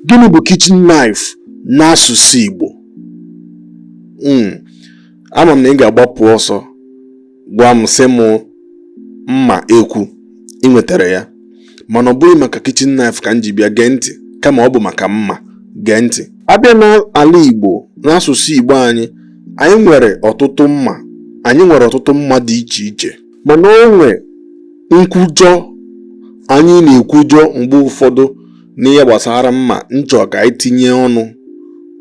Gịnị bụ kitchen knife n'asụsụ Igbo? Hmm, ama m na ị ga-agbapụ ọsọ gwa m sị m mma ekwu ị nwetara ya mana ọ bụghị maka kitchen knife ka m ji bịa gee ntị kama ọ bụ maka mma gee ntị a bịa n'ala Igbo n'asụsụ Igbo anyị anyị nwere ọtụtụ mma anyị nwere ọtụtụ mma dị iche iche mana o nwe nkwujọ anyị na-ekwujọ mgbe ụfọdụ n'ihe gbasara mma m chọ ka anyị tinye ọnụ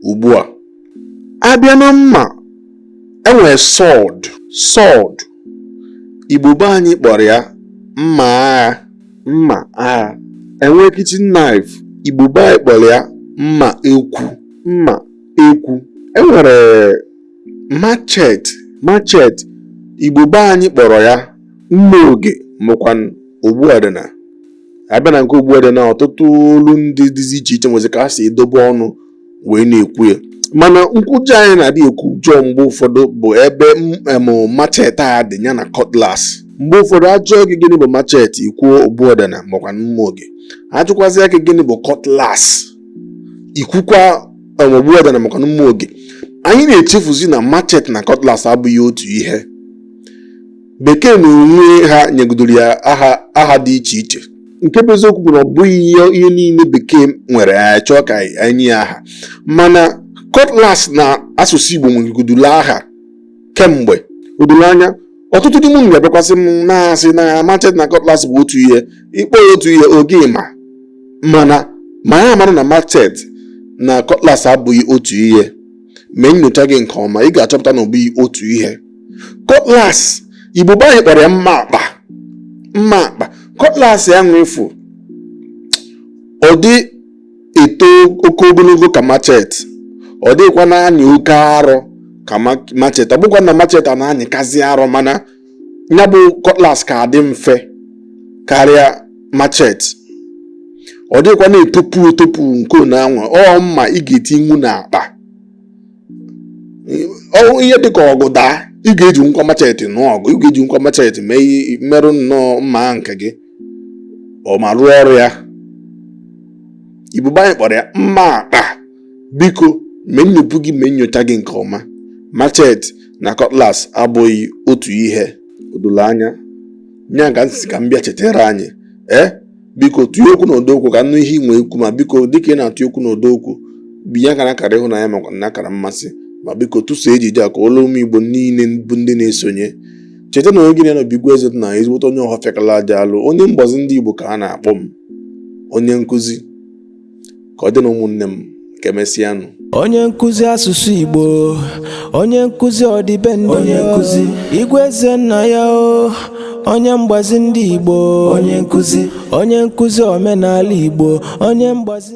ugbu a a bịa na mma e nwere sword sword igbo be anyị kpọrọ ya mma agha mma agha e nwee kitchen knife igbo be anyị kpọrọ ya mma ekwu mma ekwu e nwere machet machet igbo be anyị kpọrọ ya mma oge makwa na ogbuadana a bịa na nke ogbuadana ọtụtụ olu ndị dịzi iche iche nwezi ka ha si edobe ọnụ wee na-ekwu ya mana nkwujọ anyị na-adị ekwujọ mgbe ụfọdụ bụ ebe machet a dị ya na cutlass mgbe ụfọdụ a jụọ gị gịnị bụ machet i kwuo ogbuadana makwa mma oge a jụkwazịa gị gịnị bụ cutlass i kwukwa ogbuadana makwa mma oge anyị na-echefuzi na machet na cutlass abụghị otu ihe bekee na onwe ha nyegodoro ya aha aha dị iche iche nke bụ eziokwu bụ na ọ bụghị ihe ihe niile bekee nwere ya chọọ ka anyị nye ya aha mana cutlass na asụsụ igbo nwegodoro aha kemgbe o doro anya ọtụtụ n'ime unu ga-abịakwasị m na-asị na machet na cutlass bụ otu ihe ị kpọọ ya otu ihe oge ma mana ma ya mara na machet na cutlass abụghị otu ihe mee nyocha gị nke ọma ị ga-achọpụta na ọ bụghị otu ihe cutlass igbo be anyị kpọrọ ya mma akpa mma akpa cutlass anwa ị fụ ọ dịghị eto oke ogologo ka machet ọ dịghịkwa na-anyị oke arọ ka ma- machet ọ bụkwa na machet a na-anyịkazi arọ mana ya bụ cutlass ka adị mfe karịa machet ọ dịghịkwa na-etopu etopu nke one anwa ọ mma ị ga-etinwu n'akpa ọ- ihe dịka ọgụ daa ị ga-ejinwukwa machet nụọ ọgụ ị ga-ejinwukwa machet mee ihe- merụ nnọọ mma nke gị ọ ma rụọ ọrụ ya igbo be anyị kpọrọ ya mma akpa biko mee nnyopụ gị mee nyocha gị nke ọma machet na cutlass abụghị otu ihe o dolo anya ya ka m sị ka m bịa chetara anyị ee eh? biko tụọ okwu na ọdọ okwu ka m nụ ihe i nwe ikwu ma biko dịka ị na-atụ okwu na ọdọ okwu binye akara akara ịhụnanya makwa na akara mmasị ma biko tụsaa ejije a ka o ruo ụmụ igbo niile bụ ndị na-esonye cheta na onye gị na ya nọ bụ igwe eze nna ya ezigbote onye ọhafịa kala aja alụ onye mgbazi ndị igbo ka a na-akpọ m onye nkụzi ka ọ dị na ụmụnne m ka emesịanụ onye nkụzi asụsụ igbo onye nkụzi ọdịbendị onye nkụzi igwe eze nna ya o onye mgbazi ndị igbo onye nkụzi onye nkụzi omenala igbo onye mgbazi